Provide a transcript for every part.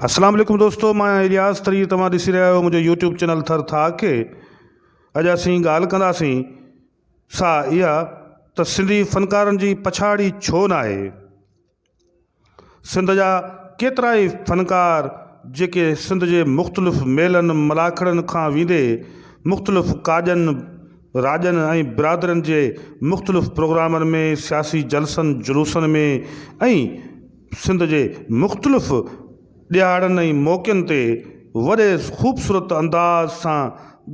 اسلام عليڪم دوستو مان آهيان الياس تري توهان ڏسي رهيا آهيو منهنجو يوٽيوب چينل ٿر ٿا کي اڄ اسين ڳالهه ڪنداسين سا اها ته سنڌي فنڪارن جي پڇاڙي ڇو نه آهي سنڌ جا ڪيترا ئي فنڪار جيڪي سنڌ جي مختلف ميلن ملاکڙن کان ويندي مختلف ڪاڄن راڄن ۽ برادرين جي مختلف پروگرامن ۾ سياسي جلسن جلوسن ۾ ۽ سنڌ جي مختلف ڏهاڙن ۽ موقعن تي وڏي خوبصورت انداز سان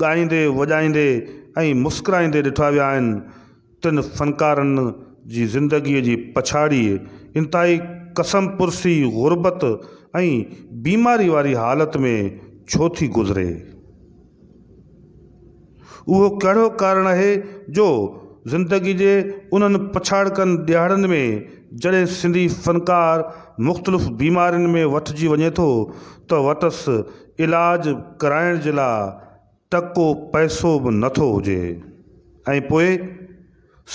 ڳائيندي وڄائيندي ۽ مسڪرائيندي ڏٺا ويا آهن. تن فنڪارن جي زندگيء جي پڇاڙيء انتهائي قسم پرسي، غربت ۽ بيماري واري حالت ۾ ڇو ٿي گذري؟ اهو ڪهڙو ڪارڻ آهي جو زندگي جي انهن پڇاڙڪن ڏهاڙن ۾ جڏهن سنڌي فنڪار مختلف بيمارين ۾ وٺجي وڃي ٿو ته وٽس علاج ڪرائڻ جي لاء ٽڪو پئسو به نٿو هجي ۽ پوء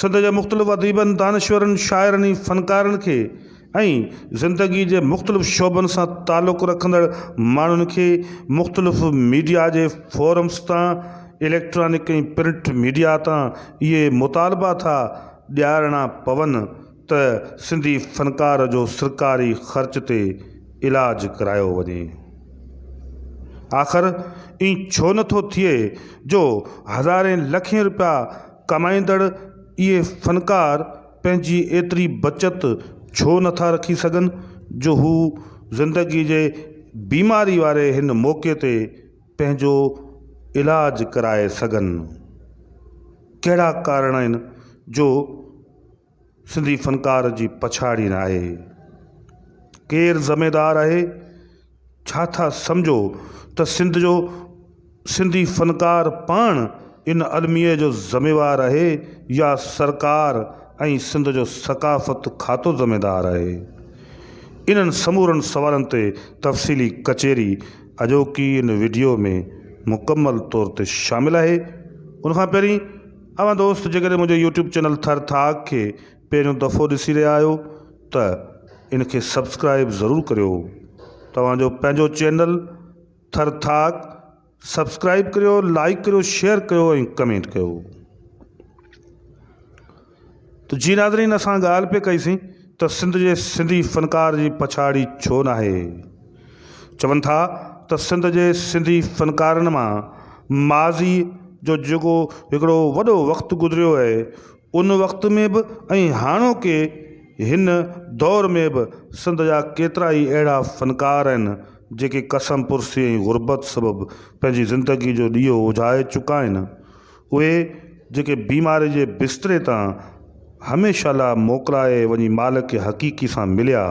سنڌ جي مختلف اديبن، دانشورن، شاعرن ۽ فنڪارن کي ۽ زندگي جي مختلف شعبن سان تعلق رکندڙ ماڻهن کي مختلف ميڊيا جي فورمز تان، اليڪٽرانڪ ۽ پرنٽ ميڊيا تان اهي مطالبا ٿا ڏيارڻا پون ته سنڌي فنڪار جو سرڪاري خرچ تي علاج ڪرايو وڃي. آخر ائين ڇو نه ٿو ٿئي جو هزارين لکين روپيا، ڪمائيندڙ اهي فنڪار پنهنجي ايتري بچت ڇو نه ٿا رکي سگهن جو هو زندگيء جي بيماري واري هن موقعي تي پنهنجو علاج ڪرائي سگهن. ڪهڙا ڪارڻ آهن جو سنڌي فنڪار جي پڇاڙي نه آهي. ڪير ذميدار آهي؟ ڇا ٿا سمجهو ته سنڌ جو سنڌي فنڪار پاڻ ان الميي جو ذميوار آهي يا سرڪار ۽ سنڌ جو ثقافت کاتو ذميدار آهي؟ انهن سمورن سوالن تي تفصيلي ڪچهري اڄوڪي ان وڊيو ۾ مڪمل طور تي شامل آهي. ان کان پهرين اوهان دوست جيڪڏهن منهنجو يوٽيوب چينل ٿر ٿاڪ کي پهريون دفعو ڏسي رهيا آهيو ته ان کي سبسڪرائب ضرور ڪريو توهان جو پنهنجو چينل ٿر ٿاڪ سبسڪرائب ڪريو لائڪ ڪريو شيئر ڪيو ۽ ڪمينٽ ڪيو. ته جي ناظرين اسان ڳالهه پئي ڪئي سين ته سنڌ جي سنڌي فنڪار جي پڇاڙي ڇو ناهي؟ چون ٿا ته سنڌ جي سنڌي فنڪارن مان ماضي جو جيڪو هڪڙو وڏو وقت گذريو اهي ان وقت ۾ به ۽ هاڻوڪي هن دور ۾ به سنڌ جا ڪيترا ئي اهڙا فنڪار آهن جيڪي ڪسم پرسي ۽ غربت سبب پنهنجي زندگي جو ڏيئو اجهائي چڪا آهن اهي جيڪي بيماري جي بستري تان هميشه لاء موڪلائي وڃي مالڪ حقيقي سان مليا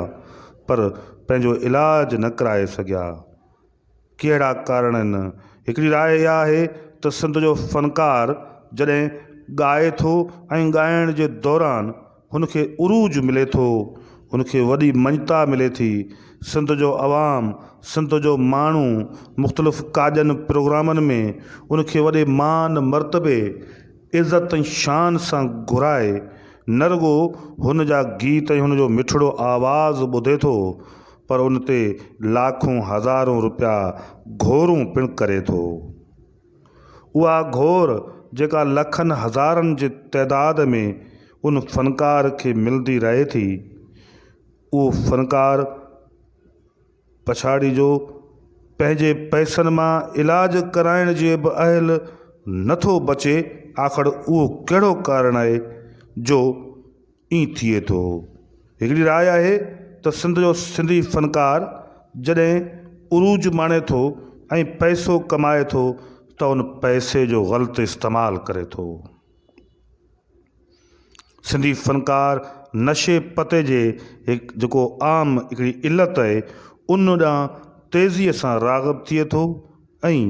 پر پنهنجو علاج نه ڪرائي سگهيا. ڪهڙا ڪارڻ آهن؟ هڪڙي راء اها آهي ته سنڌ جو فنڪار جڏهن ڳائي ٿو ۽ ڳائڻ جي دوران هن کي عروج ملي ٿو، هن کي وڏي مڃتا ملي ٿي. سنڌ جو عوام، سنڌ جو ماڻهو مختلف ڪاڄن پروگرامن ۾ ان کي وڏي مان مرتبي، عزت ۽ شان سان گهرائي نه رڳو هن جا گيت ۽ هن جو مٺڙو آواز ٻڌي ٿو پر ان تي لاکون هزارون روپيا گهورون پڻ ڪري ٿو. اها گهور جيڪا لکن هزارن جي تعداد ۾ ان فنڪار کي ملندي رهي ٿي، اهو فنڪار پڇاڙيء جو پنهنجي پئسن مان علاج ڪرائڻ جي به اهل نه ٿو بچي، آخر اهو ڪهڙو ڪارڻ آهي جو ائين ٿئي ٿو. هڪڙي راء آهي ته سنڌ جو سنڌي فنڪار جڏهن عروج ماڻي ٿو ۽ پئسو ڪمائي ٿو ته ان پئسي جو غلط استعمال ڪري ٿو. سنڌي فنڪار نشي پتي جي هڪ جيڪو عام هڪڙي علت آهي ان ڏانهن تيزيء سان راغب ٿئي ٿو ۽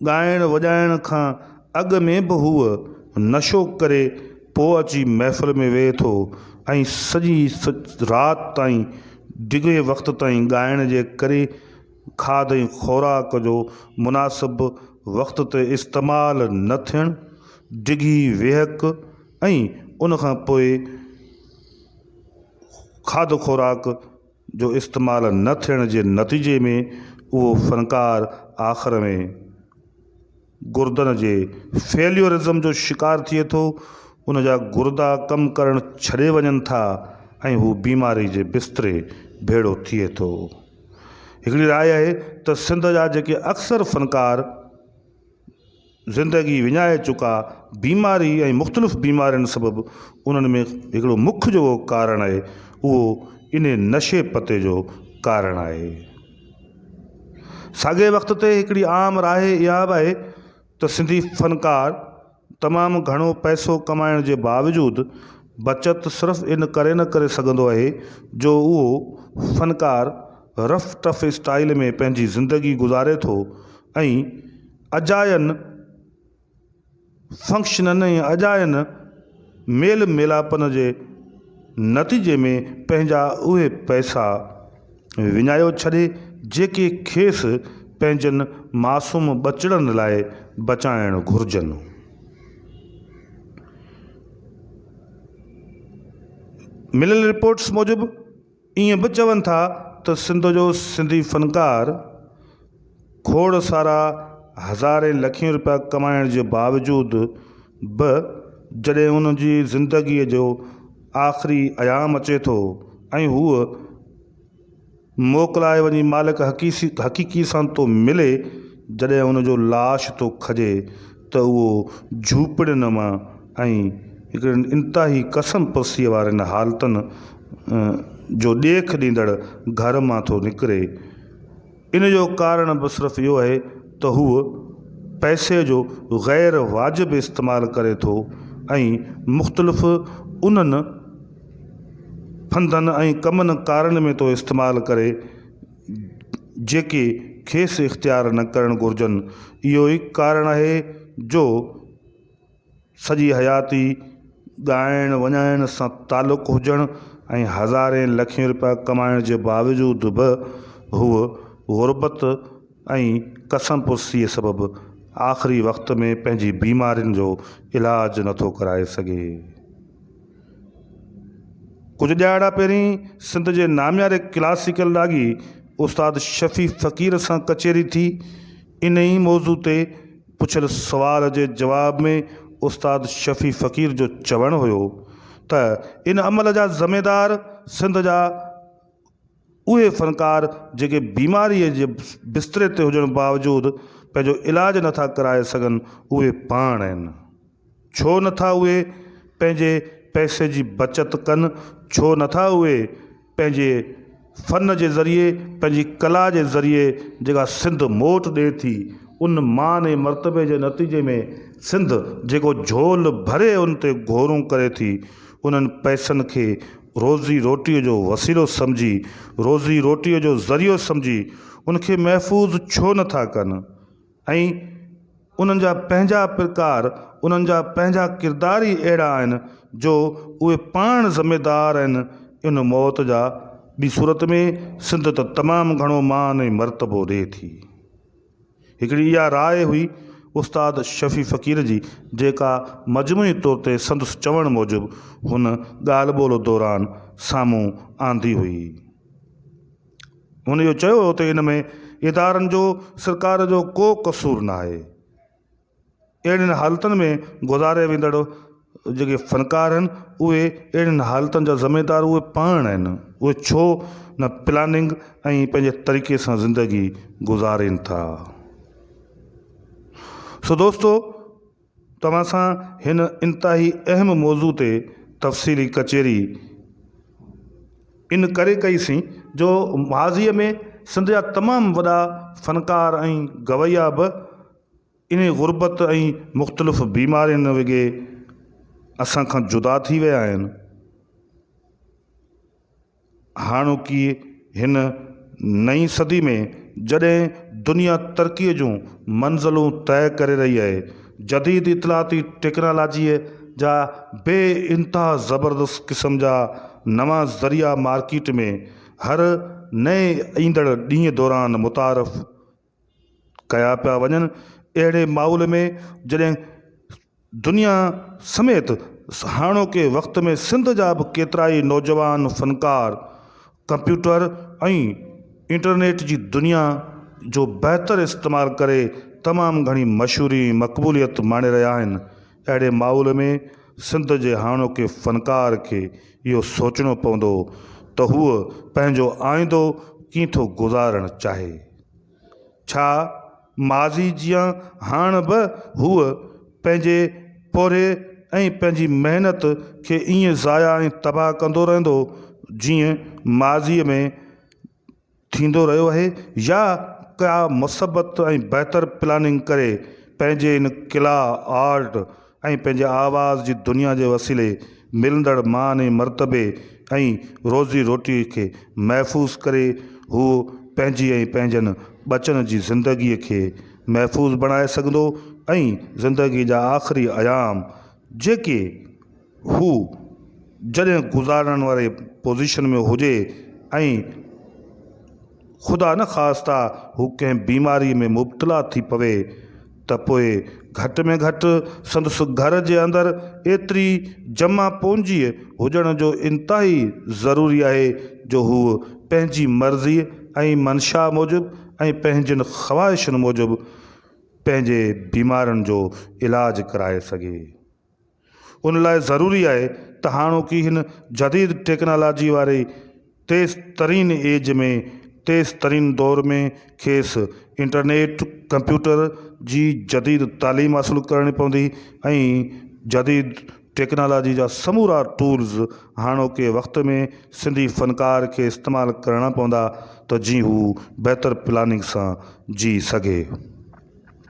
ڳائڻ وڄائڻ کان اڳ ۾ به هو نشو ڪري پوء اچي محفل ۾ ويهي ٿو ۽ سڄي رات تائين ڊگهي وقت تائين ڳائڻ جي ڪري کاڌ ۽ خوراڪ جو مناسب وقت تي استعمال نه ٿيڻ، ڊگهي ويهڪ ۽ ان کان پوء کاڌ خوراڪ. جو استعمال نه ٿيڻ جي نتيجي ۾ اهو فنڪار آخر ۾ گردن جي فيليورزم جو شڪار ٿئي ٿو، ان جا گردا ڪم ڪرڻ ڇڏي وڃن ٿا ۽ هو بيماري جي بستري ڀيڙو ٿئي ٿو. هڪڙي راء آهي ته سنڌ جا جيڪي اڪثر فنڪار. زندگي وڃائي چڪا بيماري ۽ مختلف بيمارين سبب انهن ۾ هڪڙو مک جو ڪارڻ آهي اهو انهي نشي پتي جو ڪارڻ آهي. ساڳئي وقت تي هڪڙي عام راء اها به آهي ته سنڌي فنڪار تمام گهڻو پئسو ڪمائڻ جي باوجود بچت صرف ان ڪري نه ڪري سگهندو آهي جو اهو فنڪار رف ٽف اسٽائيل ۾ پنهنجي زندگي گذاري ٿو ۽ اجاين فنڪشنن ۽ اجاين ميل ميلاپن جي نتيجي ۾ پنهنجا اهي پئسا وڃايو ڇڏي جيڪي کيس پنهنجن معصوم ٻچڙن لاء بچائڻ گهرجن. مليل رپورٽس موجب ائين به چون ٿا ته سنڌ جو سنڌي فنڪار کوڙ سارا هزارين لکين روپيا ڪمائڻ جي باوجود به جڏهن ان جي زندگيء جو آخري ايام اچي ٿو ۽ هو موڪلائي وڃي مالڪ حقيقي سان ٿو ملي جڏهن ان جو لاش ٿو کڄي ته اهو جهوپڙين مان ۽ هڪڙين انتهائي ڪسن پرسيء وارين حالتن جو ڏيک ڏيندڙ گهر مان ٿو نڪري. ان جو ڪارڻ به صرف اهو آهي ته هو پئسي جو غير واجب استعمال ڪري ٿو ۽ مختلف انهن ڦندن ۽ ڪمن ڪارن ۾ ٿو استعمال ڪري، جيڪي کيس اختيار نه ڪرڻ گهرجن. اهو ئي ڪارڻ آهي جو سڄي حياتي ڳائڻ وڃائڻ سان تعلق هجڻ ۽ هزارين لکين روپيا ڪمائڻ جي باوجود به هوء غربت ۽ ڪسم پرسيء سبب آخري وقت ۾ پنهنجي بيمارين جو علاج نٿو ڪرائي سگهي. ڪجهه ڏهاڙا پهرين سنڌ جي نامياري ڪلاسيڪل راڳي استاد شفيع فقير سان ڪچهري ٿي. انهي ئي موضوع تي پڇيل سوال جي جواب ۾ استاد شفيع فقير جو چوڻ هيو ته ان عمل جا ذميدار سنڌ جا اهي فنڪار جيڪي بيماريء جي بستري تي هجڻ باوجود پنهنجو علاج نه ٿا ڪرائي سگهن اهي پاڻ آهن. ڇو نه ٿا اهي پنهنجي پئسي جي بچت ڪن، ڇو نه ٿا اهي پنهنجي فن جي ذريعي، پنهنجي ڪلا جي ذريعي جيڪا سنڌ موٽ ڏئي ٿي ان مان ۽ مرتبي جي نتيجي ۾ سنڌ جيڪو جهول ڀري ان تي گهورون ڪري ٿي انهن پئسن کي روزي روٽيء جو وسيلو سمجهي، روزي روٽيء جو ذريعو سمجهي ان کي محفوظ ڇو نه ٿا ڪن ۽ انهن جا پنهنجا پرڪار، انهن جا پنهنجا ڪردار ئي اهڙا آهن جو اهي پاڻ ذميدار آهن ان موت جا، ٻي صورت ۾ سنڌ ته تمام گهڻو مان ۽ مرتبو ڏئي ٿي. هڪڙي اها راء هئي استاد شفيع فقير جي جيڪا مجموعي طور تي سندس چوڻ موجب هن ڳالهه ٻولهه دوران سامهون آندي هئي. هن اهو چيو هو ته ان ۾ ادارن جو سرڪار جو ڪو قصور ناهي. اهڙين حالتن ۾ گذاريا ويندڙ جيڪي فنڪار آهن اهي اهڙين حالتن جا ذميدار اهي پاڻ آهن اهي ڇو نه پلاننگ ۽ پنهنجي طريقي سان زندگي گذارين ٿا سو دوستو توهان سان هن انتهائي اهم موضوع تي تفصيلي ڪچهري ان ڪري ڪئي سين جو ماضيء ۾ سنڌ جا تمام وڏا فنڪار ۽ گويا به انهي غربت ۽ مختلف بيمارين وگي اسان کان جدا ٿي ويا آهن. هاڻوڪي هن نئين صدي ۾ جڏهن دنيا ترقي جون منزلون طئي ڪري رهي آهي، جديد اطلاعاتي ٽيڪنالاجيء جا بي انتها زبردست قسم جا نوان ذريعا مارڪيٽ ۾ هر نئين ايندڙ ڏينهن دوران متعارف ڪيا پيا وڃن، اهڙي ماحول ۾ جڏهن دنيا سميت هاڻوڪي وقت ۾ سنڌ جا به ڪيترائي نوجوان فنڪار ڪمپيوٽر ۽ انٽرنيٽ جي دنيا جو بهتر استعمال ڪري تمام گهڻي مشهوري ۽ مقبوليت ماڻي رهيا آهن، اهڙي ماحول ۾ سنڌ جي هاڻوڪي فنڪار کي اهو سوچڻو پوندو ته هو پنهنجو آئيندو ڪيئن ٿو گذارڻ چاهي. ڇا ماضي جيان هاڻ به هو پنهنجي پورهيي ۽ پنهنجي محنت کي ايئن ضايع ۽ تباهه ڪندو رهندو جيئن ماضيء ۾ ٿيندو رهيو آهي يا ڪا مثبت ۽ بهتر پلاننگ ڪري پنهنجي ان ڪلا، آرٽ ۽ پنهنجي آواز جي دنيا جي وسيلي ملندڙ مان ۽ مرتبي ۽ روزي روٽي کي محفوظ ڪري هو پنهنجي ۽ پنهنجن ٻچن جي زندگي کي محفوظ بڻائي سگهندو ۽ زندگي جا آخري ايام جيڪي هو جڏهن گذارڻ واري پوزيشن ۾ هجي ۽ خدا نخواسته هو ڪنهن بيماريء ۾ مبتلا ٿي پوي ته پوء گهٽ ۾ گهٽ سندس گهر جي اندر ايتري جمع پونجيء هجڻ جو انتهائي ضروري آهي جو هوء پنهنجي مرضيء ۽ منشا موجب ۽ پنهنجين خواهشن موجب پنهنجي بيمارين جو علاج ڪرائي سگهي. ان لاء ضروري آهي ته هاڻوڪي هن جديد ٽيڪنالاجي واري تيز ترين ايج ۾ تيز ترين دور ۾ کيس انٽرنيٽ، ڪمپيوٽر جي جديد تعليم حاصل ڪرڻي پوندي ۽ جديد ٽيڪنالاجي جا سمورا ٽولز هاڻوڪي وقت ۾ سنڌي فنڪار کي استعمال ڪرڻا پوندا ته جيئن هو بهتر پلاننگ سان جي سگهي.